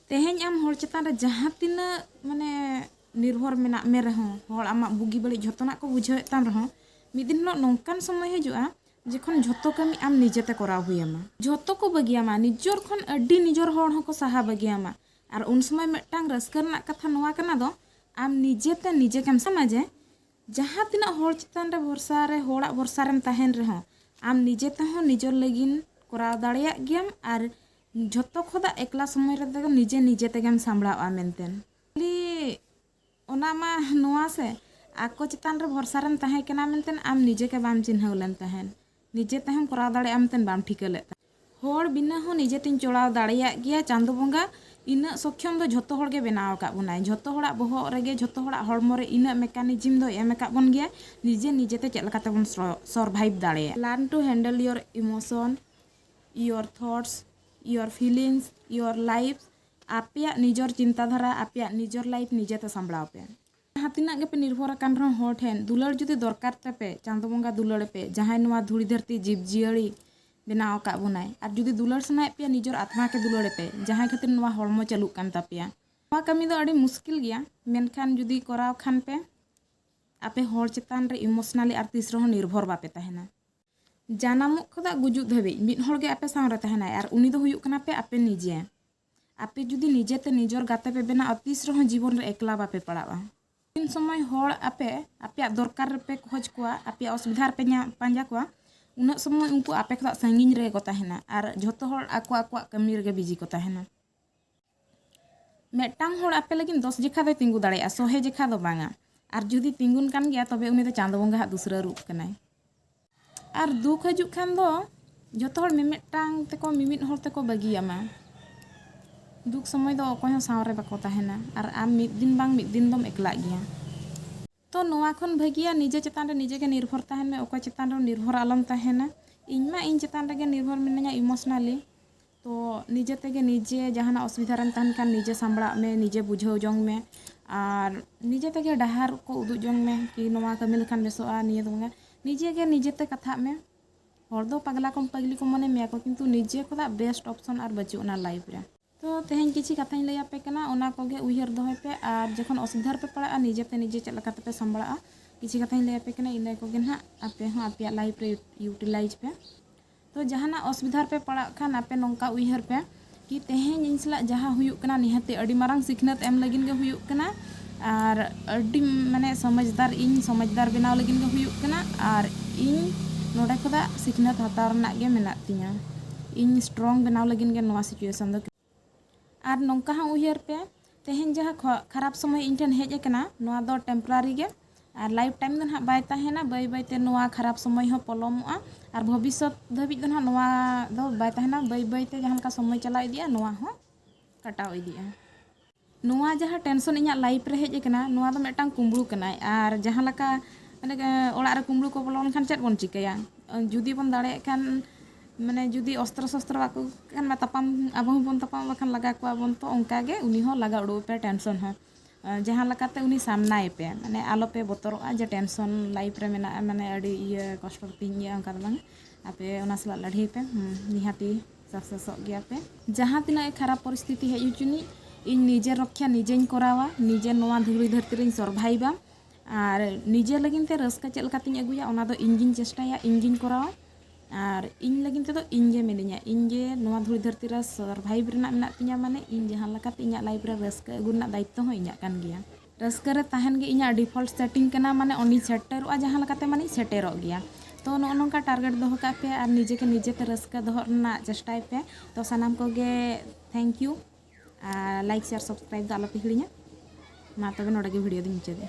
ᱛᱮᱦᱮᱧ ᱟᱢ ᱦᱚᱲ ᱪᱮᱛᱟᱱ ᱨᱮ ᱡᱟᱦᱟᱸ ᱛᱤᱱᱟᱹᱜ ᱢᱟᱱᱮ ᱱᱤᱨᱵᱷᱚᱨ ᱢᱮᱱᱟᱜ ᱢᱮ ᱨᱮᱦᱚᱸ ᱦᱚᱲ ᱟᱢᱟᱜ ᱵᱩᱜᱤ ᱵᱟᱹᱲᱤᱡ ᱡᱷᱚᱛᱚᱱᱟᱜ ᱠᱚ ᱵᱩᱡᱷᱟᱹᱣᱮᱫ ᱛᱟᱢ ᱨᱮᱦᱚᱸ ᱢᱤᱫ ᱫᱤᱱ ᱦᱤᱞᱳᱜ ᱱᱚᱝᱠᱟᱱ ᱥᱚᱢᱚᱭ ᱦᱤᱡᱩᱜᱼᱟ ᱡᱚᱠᱷᱚᱱ ᱡᱷᱚᱛᱚ ᱠᱟᱹᱢᱤ ᱟᱢ ᱱᱤᱡᱮᱛᱮ ᱠᱚᱨᱟᱣ ᱦᱩᱭᱟᱢᱟ ᱡᱷᱚᱛᱚ ᱠᱚ ᱵᱟᱹᱜᱤᱭᱟᱢᱟ ᱱᱤᱡᱚᱨ ᱠᱷᱚᱱ ᱟᱹᱰᱤ ᱱᱤᱡᱚᱨ ᱦᱚᱲ ᱦᱚᱸᱠᱚ ᱥᱟᱦᱟ ᱵᱟᱹᱜᱤᱭᱟᱢᱟ ᱟᱨ ᱩᱱ ᱥᱚᱢᱚᱭ ᱢᱤᱫᱴᱟᱝ ᱨᱟᱹᱥᱠᱟᱹ ᱨᱮᱱᱟᱜ ᱠᱟᱛᱷᱟ ᱱᱚᱣᱟ ᱠᱟᱱᱟ ᱫᱚ ᱟᱢ ᱱᱤᱡᱮᱛᱮ ᱱᱤᱡᱮ ᱜᱮᱢ ᱥᱟᱱᱟ ᱡᱮ ᱡᱟᱦᱟᱸ ᱛᱤᱱᱟᱹᱜ ᱦᱚᱲ ᱪᱮᱛᱟᱱ ᱨᱮ ᱵᱷᱚᱨᱥᱟ ᱨᱮ ᱦᱚᱲᱟᱜ ᱵᱷᱚᱨᱥᱟ ᱨᱮᱢ ᱛᱟᱦᱮᱱ ᱨᱮᱦᱚᱸ ᱟᱢ ᱱᱤᱡᱮ ᱛᱮᱦᱚᱸ ᱱᱤᱡᱚᱨ ᱞᱟᱹᱜᱤᱫ ᱠᱚᱨᱟᱣ ᱫᱟᱲᱮᱭᱟᱜ ᱜᱮᱭᱟᱢ ᱟᱨ ᱡᱷᱚᱛᱚ ᱠᱷᱚᱫᱟ ᱮᱠᱞᱟ ᱥᱚᱢᱚᱭ ᱨᱮᱫᱚ ᱱᱤᱡᱮ ᱱᱤᱡᱮ ᱛᱮᱜᱮᱢ ᱥᱟᱢᱵᱲᱟᱣᱜᱼᱟ ᱢᱮᱱᱛᱮ ᱠᱷᱟᱹᱞᱤ ᱚᱱᱟ ᱢᱟ ᱱᱚᱣᱟ ᱥᱮ ᱟᱠᱚ ᱪᱮᱛᱟᱱ ᱨᱮ ᱵᱷᱚᱨᱥᱟ ᱨᱮᱢ ᱛᱟᱦᱮᱸ ᱠᱟᱱᱟ ᱢᱮᱱᱛᱮ ᱟᱢ ᱱᱤᱡᱮ ᱜᱮ ᱵᱟᱢ ᱪᱤᱱᱦᱟᱹᱣ ᱞᱮᱱ ᱛᱟᱦᱮᱸᱫ ᱱᱤᱡᱮ ᱛᱮᱦᱚᱸᱢ ᱠᱚᱨᱟᱣ ᱫᱟᱲᱮᱭᱟᱜᱼᱟ ᱢᱮᱱᱛᱮ ᱵᱟᱢ ᱴᱷᱤᱠᱟᱹ ᱞᱮᱫ ᱛᱟᱦᱮᱸᱫ ᱦᱚᱲ ᱵᱤᱱᱟᱹ ᱦᱚᱸ ᱱᱤᱡᱮ ᱛᱤᱧ ᱪᱚᱲᱟᱣ ᱫᱟᱲᱮᱭᱟᱜ ᱜᱮᱭᱟ ᱪᱟᱸᱫᱚ ᱵᱚᱸᱜᱟ ᱤᱱᱟᱹᱜ ᱥᱚᱠᱠᱷᱚᱢ ᱫᱚ ᱡᱷᱚᱛᱚ ᱦᱚᱲ ᱜᱮ ᱵᱮᱱᱟᱣ ᱟᱠᱟᱫ ᱵᱚᱱᱟᱭ ᱡᱷᱚᱛᱚ ᱦᱚᱲᱟᱜ ᱵᱚᱦᱚᱜ ᱨᱮᱜᱮ ᱡᱷᱚᱛᱚ ᱦᱚᱲᱟᱜ ᱦᱚᱲᱢᱚ ᱨᱮ ᱤᱱᱟᱹᱜ ᱢᱮᱠᱟᱱᱤᱡᱤᱢ ᱫᱚᱭ ᱮᱢ ᱟᱠᱟᱫ ᱵᱚᱱ ᱜᱮᱭᱟᱭ ᱱᱤᱡᱮ ᱱᱤᱡᱮ ᱛᱮ ᱪᱮᱫ ᱞᱮᱠᱟ ᱛᱮᱵᱚᱱ ᱥᱚᱨᱵᱷᱟᱭᱤᱵᱷ ᱫᱟᱲᱮᱭᱟᱜᱼᱟ learn to handle your emotion your thoughts your feelings your life ᱟᱯᱮᱭᱟᱜ ᱱᱤᱡᱚᱨ ᱪᱤᱱᱛᱟ ᱫᱷᱟᱨᱟ ᱟᱯᱮᱭᱟᱜ ᱱᱤᱡᱚᱨ ᱞᱟᱭᱤᱯᱷ ᱱᱤᱡᱮ ᱛᱮ ᱥᱟᱢᱵᱽᱲᱟᱣ ᱯᱮ ᱡᱟᱦᱟᱸ ᱛᱤᱱᱟᱹᱜ ᱜᱮᱯᱮ ᱱᱤᱨᱵᱷᱚᱨ ᱟᱠᱟᱱ ᱨᱮᱦᱚᱸ ᱦᱚᱲ ᱴᱷᱮᱱ ᱫᱩᱞᱟᱹᱲ ᱡᱩᱫᱤ ᱫᱚᱨᱠᱟᱨ ᱛᱟᱯᱮ ᱪᱟᱸᱫᱚ ᱵᱚᱸᱜᱟ ᱫᱩᱞᱟᱹᱲ ᱯᱮ ᱡᱟᱦᱟᱸᱭ ᱱᱚᱣᱟ ᱫᱷᱩᱲᱤ ᱫᱷᱟᱹᱨᱛᱤ ᱡᱤᱵᱽ ᱡᱤᱭᱟᱹᱲᱤ ᱵᱮᱱᱟᱣ ᱟᱠᱟᱫ ᱵᱚᱱᱟᱭ ᱟᱨ ᱡᱩᱫᱤ ᱫᱩᱞᱟᱹᱲ ᱥᱟᱱᱟᱭᱮᱫ ᱯᱮᱭᱟ ᱱᱤᱡᱚᱨ ᱟᱛᱢᱟ ᱜᱮ ᱫᱩᱞᱟᱹᱲ ᱯᱮ ᱡᱟᱦᱟᱸᱭ ᱠᱷᱟᱹᱛᱤᱨ ᱱᱚᱣᱟ ᱦᱚᱲᱢᱚ ᱪᱟᱹᱞᱩᱜ ᱠᱟᱱ ᱛᱟᱯᱮᱭᱟ ᱱᱚᱣᱟ ᱠᱟᱹᱢᱤ ᱫᱚ ᱟᱹᱰᱤ ᱢᱩᱥᱠᱤᱞ ᱜᱮᱭᱟ ᱢᱮᱱᱠᱷᱟᱱ ᱡᱩᱫᱤ ᱠᱚᱨᱟᱣ ᱠᱷᱟᱱ ᱯᱮ ᱟᱯᱮ ᱦᱚᱲ ᱪᱮᱛᱟᱱ ᱨᱮ ᱤᱢᱳᱥᱚᱱᱟᱞᱤ ᱟᱨ ᱛᱤᱥ ᱨᱮᱦᱚᱸ ᱱᱤᱨᱵᱷᱚᱨ ᱵᱟᱯᱮ ᱛᱟᱦᱮᱱᱟ ᱡᱟᱱᱟᱢᱚᱜ ᱠᱷᱚᱫᱟᱜ ᱜᱩᱡᱩᱜ ᱫᱷᱟᱹᱵᱤᱡ ᱢᱤᱫ ᱦᱚᱲ ᱜᱮ ᱟᱯᱮ ᱥᱟᱶ ᱨᱮ ᱛᱟᱦᱮᱱᱟᱭ ᱟᱨ ᱩᱱᱤ ᱫᱚ ᱦᱩᱭᱩᱜ ᱠᱟᱱᱟ ᱯᱮ ᱟᱯᱮ ᱱᱤᱡᱮ᱾ ᱟᱯᱮ ᱡᱩᱫᱤ ᱱᱤᱡᱮ ᱛᱮ ᱱᱤᱡᱚᱨ ᱜᱟᱛᱮ ᱯᱮ ᱵᱮᱱᱟᱣᱜᱼᱟ ᱛᱤᱥ ᱨᱮᱦᱚᱸ ᱡᱤᱵᱚᱱ ᱨᱮ ᱮᱠᱞᱟ ᱵᱟᱯᱮ ᱯᱟᱲᱟᱣᱜᱼᱟ᱾ ᱛᱤᱱ ᱥᱚᱢᱚᱭ ᱦᱚᱲ ᱟᱯᱮ ᱟᱯᱮᱭᱟᱜ ᱫᱚᱨᱠᱟᱨ ᱨᱮ ᱯᱮ ᱠᱷᱚᱡᱽ ᱠᱚᱣᱟ, ᱟᱯᱮᱭᱟᱜ ᱚᱥᱵᱤᱫᱷᱟ ᱨᱮ ᱯᱮ ᱧᱟᱢ ᱯᱟᱸᱡᱟ ᱠᱚᱣᱟ ᱩᱱᱟᱹᱜ ᱥᱚᱢᱚᱭ ᱩᱱᱠᱩ ᱟᱯᱮ ᱠᱷᱚᱫᱟᱜ ᱥᱟᱺᱜᱤᱧ ᱨᱮᱜᱮ ᱠᱚ ᱛᱟᱦᱮᱱᱟ ᱟᱨ ᱡᱷᱚᱛᱚ ᱦᱚᱲ ᱟᱠᱚ ᱟᱠᱚᱣᱟᱜ ᱠᱟᱹᱢᱤ ᱨᱮᱜᱮ ᱵᱤᱡᱤ ᱠᱚ ᱛᱟᱦᱮᱱᱟ᱾ ᱢᱤᱫᱴᱟᱝ ᱦᱚᱲ ᱟᱯᱮ ᱞᱟᱹᱜᱤᱫ ᱫᱚᱥ ᱡᱮᱠᱷᱟ ᱫᱚᱭ ᱛᱤᱸᱜᱩ ᱫᱟᱲᱮᱭᱟᱜᱼᱟ ᱥᱚᱦᱮ ᱡᱮᱠᱷᱟ ᱫᱚ ᱵᱟᱝᱟ ᱟᱨ ᱡᱩᱫᱤ ᱛᱤᱸᱜᱩᱱ ᱠᱟᱱ ᱜᱮᱭᱟ ᱛᱚᱵᱮ ᱩᱱᱤ ᱫᱚ ᱪᱟᱸᱫᱚ ᱵᱚᱸᱜᱟ ᱦᱟᱜ ᱫᱩᱥᱨᱟᱹ ᱨᱩᱯ ᱠᱟᱱᱟᱭ ᱟᱨ ᱫᱩᱠ ᱦᱤᱡᱩᱜ ᱠᱷᱟᱱ ᱫᱚ ᱡᱚᱛᱚ ᱦᱚᱲ ᱢᱤᱢᱤᱫᱴᱟᱝ ᱛᱮᱠᱚ ᱢᱤᱢᱤᱫ ᱦᱚᱲ ᱛᱮᱠᱚ ᱵᱟᱹᱜᱤᱭᱟᱢᱟ ᱫᱩᱠ ᱥᱚᱢᱚᱭ ᱫᱚ ᱚᱠᱚᱭ ᱦᱚᱸ ᱥᱟᱶᱨᱮ ᱵᱟᱠᱚ ᱛᱟᱦᱮᱱᱟ ᱟᱨ ᱟᱢ ᱢᱤᱫ ᱫᱤᱱ ᱵᱟᱝ ᱢᱤᱫ ᱫᱤᱱ ᱫᱚᱢ ᱮᱠᱞᱟᱜ ᱜᱮᱭᱟ ᱛᱚ ᱱᱚᱣᱟ ᱠᱷᱚᱱ ᱵᱷᱟᱹᱜᱤᱭᱟ ᱱᱤᱡᱮ ᱪᱮᱛᱟᱱ ᱨᱮ ᱱᱤᱡᱮ ᱜᱮ ᱱᱤᱨᱵᱷᱚᱨ ᱛᱟᱦᱮᱱ ᱢᱮ ᱚᱠᱚᱭ ᱪᱮᱛᱟᱱ ᱨᱮᱦᱚᱸ ᱱᱤᱨᱵᱷᱚᱨ ᱟᱞᱚᱢ ᱛᱟᱦᱮᱱᱟ ᱤᱧ ᱢᱟ ᱤᱧ ᱪᱮᱛᱟᱱ ᱨᱮᱜᱮ ᱱᱤᱨᱵᱷᱚᱨ ᱢᱤᱱᱟᱹᱧᱟ ᱤᱢᱳᱥᱚᱱᱟᱞᱤ ᱛᱚ ᱱᱤᱡᱮ ᱛᱮᱜᱮ ᱱᱤᱡᱮ ᱡᱟᱦᱟᱱᱟᱜ ᱚᱥᱩᱵᱤᱫᱷᱟ ᱨᱮᱢ ᱛᱟᱦᱮᱱ ᱠᱷᱟᱱ ᱱᱤᱡᱮ ᱥᱟᱢᱵᱽᱲᱟᱜ ᱢᱮ ᱱᱤᱡᱮ ᱵᱩᱡᱷᱟᱹᱣ ᱡᱚᱝ ᱢᱮ ᱟᱨ ᱱᱤᱡᱮ ᱛᱮᱜᱮ ᱰᱟᱦᱟᱨ ᱠᱚ ᱩᱫᱩᱜ ᱡᱚᱝ ᱢᱮ ᱠᱤ ᱱᱚᱣᱟ ᱠᱟᱹᱢᱤ ᱞᱮᱠᱷᱟᱱ ᱵᱮᱥᱚᱜᱼᱟ ᱱᱤᱭᱟᱹ ᱫᱚ ᱵᱟᱝᱟ ᱱᱤᱡᱮ ᱜᱮ ᱱᱤᱡᱮ ᱛᱮ ᱠᱟᱛᱷᱟᱜ ᱢᱮ ᱦᱚᱲ ᱫᱚ ᱯᱟᱜᱽᱞᱟ ᱠᱚ ᱯᱟᱹᱜᱽᱞᱤ ᱠᱚ ᱢᱚᱱᱮ ᱢᱮᱭᱟ ᱠᱚ ᱠᱤᱱᱛᱩ ᱱᱤᱡᱮ ᱠᱷᱚᱱᱟᱜ ᱵᱮᱥᱴ ᱚᱯᱷᱥᱚᱱ ᱟᱨ ᱵᱟᱹᱪᱩᱜ ᱟᱱᱟ ᱞᱟᱭᱤᱯᱷ ᱨᱮ ᱛᱚ ᱛᱮᱦᱮᱧ ᱠᱤᱪᱷᱤ ᱠᱟᱛᱷᱟᱧ ᱞᱟᱹᱭ ᱟᱯᱮ ᱠᱟᱱᱟ ᱚᱱᱟ ᱠᱚᱜᱮ ᱩᱭᱦᱟᱹᱨ ᱫᱚᱦᱚᱭ ᱯᱮ ᱟᱨ ᱡᱚᱠᱷᱚᱱ ᱚᱥᱩᱵᱤᱫᱷᱟ ᱨᱮᱯᱮ ᱯᱟᱲᱟᱜᱼᱟ ᱱᱤᱡᱮ ᱛᱮ ᱱᱤᱡᱮ ᱪᱮᱫ ᱞᱮᱠᱟ ᱛᱮᱯᱮ ᱥᱟᱢᱵᱲᱟᱜᱼᱟ ᱠᱤᱪᱷᱤ ᱠᱟᱛᱷᱟᱧ ᱞᱟᱹᱭ ᱟᱯᱮ ᱠᱟᱱᱟ ᱤᱱᱟᱹ ᱠᱚᱜᱮ ᱱᱟᱦᱟᱜ ᱟᱯᱮ ᱦᱚᱸ ᱟᱯᱮᱭᱟᱜ ᱞᱟᱭᱤᱯᱷ ᱨᱮ ᱤᱭᱩᱴᱤᱞᱟᱭᱤᱡᱽ ᱯᱮ ᱛᱚ ᱡᱟᱦᱟᱱᱟᱜ ᱚᱥᱩᱵᱤᱫᱷᱟ ᱨᱮᱯᱮ ᱯᱟᱲᱟᱜ ᱠᱷᱟᱱ ᱟᱯᱮ ᱱᱚᱝᱠᱟ ᱩᱭᱦᱟᱹᱨ ᱯᱮ ᱠᱤ ᱛᱮᱦᱮᱧ ᱤᱧ ᱥᱟᱞᱟᱜ ᱡᱟᱦᱟᱸ ᱦᱩᱭᱩᱜ ᱠᱟᱱᱟ ᱱᱤᱦᱟᱹᱛ ᱟᱹᱰᱤ ᱢᱟᱨᱟᱝ ᱥᱤᱠᱷᱱᱟᱹᱛ ᱮᱢ ᱞᱟᱹᱜᱤᱫ ᱜᱮ ᱦᱩᱭᱩᱜ ᱠᱟᱱᱟ ᱟᱨ ᱟᱹᱰᱤ ᱢᱟᱱᱮ ᱥᱚᱢᱚᱡᱽᱫᱟᱨ ᱤᱧ ᱥᱚᱢᱚᱡᱽᱫᱟᱨ ᱵᱮᱱᱟᱣ ᱞᱟᱹᱜᱤᱫ ᱜᱮ ᱦᱩᱭᱩᱜ ᱠᱟᱱᱟ ᱟᱨ ᱤᱧ ᱱᱚᱰᱮ ᱠᱷᱚᱱᱟᱜ ᱥᱤᱠᱷᱱᱟᱹᱛ ᱦᱟᱛᱟᱣ ᱨᱮᱱᱟᱜ ᱜᱮ ᱢᱮᱱᱟᱜ ᱛᱤᱧᱟᱹ ᱤᱧ ᱥᱴᱨᱚᱝ ᱵᱮᱱᱟᱣ ᱞᱟᱹᱜᱤᱫ ᱜᱮ ᱱᱚᱣᱟ ᱥᱤᱪᱩᱭᱮᱥᱚᱱ ᱫᱚ ᱟᱨ ᱱᱚᱝᱠᱟ ᱦᱚᱸ ᱩᱭᱦᱟᱹᱨ ᱯᱮ ᱛᱮᱦᱮᱧ ᱡᱟᱦᱟᱸ ᱠᱷᱟᱨᱟᱯ ᱥᱚᱢᱚᱭ ᱤᱧ ᱴᱷᱮᱱ ᱦᱮᱡ ᱟᱠᱟᱱᱟ ᱱᱚᱣᱟ ᱫᱚ ᱴᱮᱢᱯᱳᱨᱟᱨᱤ ᱜᱮ ᱟᱨ ᱞᱟᱭᱤᱯᱷ ᱴᱟᱭᱤᱢ ᱫᱚ ᱱᱟᱦᱟᱜ ᱵᱟᱭ ᱛᱟᱦᱮᱱᱟ ᱵᱟᱹᱭ ᱵᱟᱹᱭ ᱛᱮ ᱱᱚᱣᱟ ᱠᱷᱟᱨᱟᱯ ᱥᱚᱢᱚᱭ ᱦᱚᱸ ᱯᱚᱞᱚᱢᱚᱜᱼᱟ ᱟᱨ ᱵᱷᱚᱵᱤᱥᱥᱚᱛ ᱫᱷᱟᱹᱵᱤᱡ ᱫᱚ ᱱᱟᱦᱟᱜ ᱱᱚᱣᱟ ᱫᱚ ᱵᱟᱭ ᱛᱟᱦᱮᱱᱟ ᱵᱟᱹᱭ ᱵᱟᱹᱭ ᱛᱮ ᱡᱟᱦᱟᱸ ᱞᱮᱠᱟ ᱥᱚᱢᱚᱭ ᱪᱟᱞᱟᱣ ᱤᱫᱤᱜᱼᱟ ᱱᱚᱣᱟ ᱦᱚᱸ ᱠᱟᱴᱟᱣ ᱤᱫᱤᱜᱼᱟ ᱱᱚᱣᱟ ᱡᱟᱦᱟᱸ ᱴᱮᱱᱥᱚᱱ ᱤᱧᱟᱹᱜ ᱞᱟᱭᱤᱯᱷ ᱨᱮ ᱦᱮᱡ ᱟᱠᱟᱱᱟ ᱱᱚᱣᱟ ᱫᱚ ᱢᱤᱫᱴᱟᱝ ᱠᱩᱢᱵᱽᱲᱩ ᱠᱟᱱᱟᱭ ᱟᱨ ᱡᱟᱦᱟᱸ ᱞᱮᱠᱟ ᱢᱟᱱᱮ ᱚᱲᱟᱜ ᱨᱮ ᱠᱩᱢᱵᱽᱲᱩ ᱠᱚ ᱵᱚᱞᱚ ᱞᱮᱱᱠᱷᱟᱱ ᱪᱮᱫ ᱵᱚᱱ ᱪᱤᱠᱟᱹᱭᱟ ᱡᱩᱫᱤ ᱵᱚᱱ ᱫᱟᱲᱮᱭᱟᱜ ᱠᱷᱟᱱ ᱢᱟᱱᱮ ᱡᱩᱫᱤ ᱚᱥᱛᱨᱚ ᱥᱚᱥᱛᱨᱚ ᱵᱟᱠᱚ ᱟᱹᱜᱩ ᱠᱟᱜ ᱠᱷᱟᱱ ᱢᱟ ᱛᱟᱯᱟᱢ ᱟᱵᱚ ᱦᱚᱸᱵᱚᱱ ᱛᱟᱯᱟᱢ ᱵᱟᱠᱷᱟᱱ ᱞᱟᱜᱟ ᱠᱚᱣᱟ ᱵᱚᱱ ᱛᱚ ᱚᱱᱠᱟ ᱜᱮ ᱩᱱᱤ ᱦᱚᱸ ᱞᱟᱜᱟ ᱩᱰᱩᱠ ᱮᱯᱮ ᱴᱮᱱᱥᱚᱱ ᱦᱚᱸ ᱡᱟᱦᱟᱸ ᱞᱮᱠᱟᱛᱮ ᱩᱱᱤ ᱥᱟᱢᱱᱟᱭ ᱯᱮ ᱢᱟᱱᱮ ᱟᱞᱚ ᱯᱮ ᱵᱚᱛᱚᱨᱚᱜᱼᱟ ᱡᱮ ᱴᱮᱱᱥᱚᱱ ᱞᱟᱭᱤᱯᱷ ᱨᱮ ᱢᱮᱱᱟᱜᱼᱟ ᱢᱟᱱᱮ ᱟᱹᱰᱤ ᱤᱭᱟᱹ ᱠᱚᱥᱴᱚ ᱛᱤᱧ ᱜᱮᱭᱟ ᱚᱱᱠᱟ ᱫᱚ ᱵᱟᱝ ᱟᱯᱮ ᱚᱱᱟ ᱥᱟᱞᱟᱜ ᱞᱟᱹᱲᱦᱟᱹᱭ ᱯᱮ ᱱᱤᱦᱟᱹᱛᱤ ᱥᱟᱠᱥᱮᱥᱚᱜ ᱜᱮᱭᱟᱯᱮ ᱡᱟᱦᱟᱸ ᱛᱤᱱᱟᱹᱜ ᱜᱮ ᱠᱷᱟᱨᱟᱯ ᱯᱚᱨᱤᱥᱛᱷᱤᱛᱤ ᱦᱮᱡ ᱦᱚᱪᱚᱱᱤᱡ ᱤᱧ ᱱᱤᱡᱮᱨ ᱨᱚᱠᱠᱷᱟ ᱱᱤᱡᱮᱧ ᱠᱚᱨᱟᱣᱟ ᱱᱤᱡᱮᱨ ᱱᱚᱣᱟ ᱫᱷᱩᱲᱤ ᱫᱷᱟᱹᱨᱛᱤ ᱨᱮᱧ ᱥᱚᱨᱵᱷᱟᱭᱤᱵᱟ ᱟᱨ ᱱᱤᱡᱮ ᱞᱟᱹᱜᱤᱫ ᱛᱮ ᱨᱟᱹᱥᱠᱟᱹ ᱪᱮᱫ ᱞᱮᱠᱟᱛᱤᱧ ᱟᱹᱜᱩᱭᱟ ᱚᱱᱟ ᱫᱚ ᱤᱧ ᱜᱤᱧ ᱪᱮᱥᱴᱟᱭᱟ ᱤᱧ ᱜᱤᱧ ᱠᱚᱨᱟᱣᱟ ᱟᱨ ᱤᱧ ᱞᱟᱹᱜᱤᱫ ᱛᱮᱫᱚ ᱤᱧ ᱜᱮ ᱢᱤᱱᱟᱹᱧᱟ ᱤᱧ ᱜᱮ ᱱᱚᱣᱟ ᱫᱷᱩᱲᱤ ᱫᱷᱟᱹᱨᱛᱤ ᱨᱮ ᱥᱚᱨᱵᱷᱟᱭᱤᱵᱽ ᱨᱮᱱᱟᱜ ᱢᱮᱱᱟᱜ ᱛᱤᱧᱟᱹ ᱢᱟᱱᱮ ᱤᱧ ᱡᱟᱦᱟᱸ ᱞᱮᱠᱟᱛᱮ ᱤᱧᱟᱹᱜ ᱞᱟᱭᱤᱯᱷ ᱨᱮ ᱨᱟᱹᱥᱠᱟᱹ ᱟᱹᱜᱩ ᱨᱮᱱᱟᱜ ᱫᱟᱭᱤᱛᱛᱚ ᱦᱚᱸ ᱤᱧᱟᱹᱜ ᱠᱟᱱ ᱜᱮᱭᱟ ᱨᱟᱹᱥᱠᱟᱹ ᱨᱮ ᱛᱟᱦᱮᱱ ᱜᱮ ᱤᱧᱟᱹᱜ ᱰᱤᱯᱷᱚᱞᱴ ᱥᱮᱴᱤᱝ ᱠᱟᱱᱟ ᱢᱟᱱᱮ ᱚᱸᱰᱮᱧ ᱥᱮᱴᱮᱨᱚᱜᱼᱟ ᱡᱟᱦᱟᱸ ᱞᱮᱠᱟᱛᱮ ᱢᱟᱱᱮᱧ ᱥᱮᱴᱮᱨᱚᱜ ᱜᱮᱭᱟ ᱛᱚ ᱱᱚᱜᱼᱚ ᱱᱚᱝᱠᱟ ᱴᱟᱨᱜᱮᱴ ᱫᱚᱦᱚ ᱠᱟᱜ ᱯᱮ ᱟᱨ ᱱᱤᱡᱮ ᱜᱮ ᱱᱤᱡᱮ ᱛᱮ ᱨᱟᱹᱥᱠᱟᱹ ᱫᱚᱦᱚ ᱨᱮᱱᱟᱜ ᱪᱮᱥᱴᱟᱭ ᱯᱮ ᱛᱚ ᱥᱟᱱᱟᱢ ᱠᱚᱜᱮ ᱛᱷᱮᱝᱠ ᱭᱩ ᱟᱨ ᱞᱟᱭᱤᱠ ᱥᱮᱭᱟᱨ ᱥᱟᱵᱥᱠᱨᱟᱭᱤᱵ ᱫᱚ ᱟᱞᱚ ᱯᱮ ᱦᱤᱲᱤᱧᱟ ᱢᱟ ᱛᱚᱵᱮ ᱱᱚᱰᱮ ᱜᱮ ᱵᱷᱤᱰᱤᱭᱳ ᱫᱚᱧ ᱢᱩᱪᱟᱹᱫᱮᱜᱼᱟ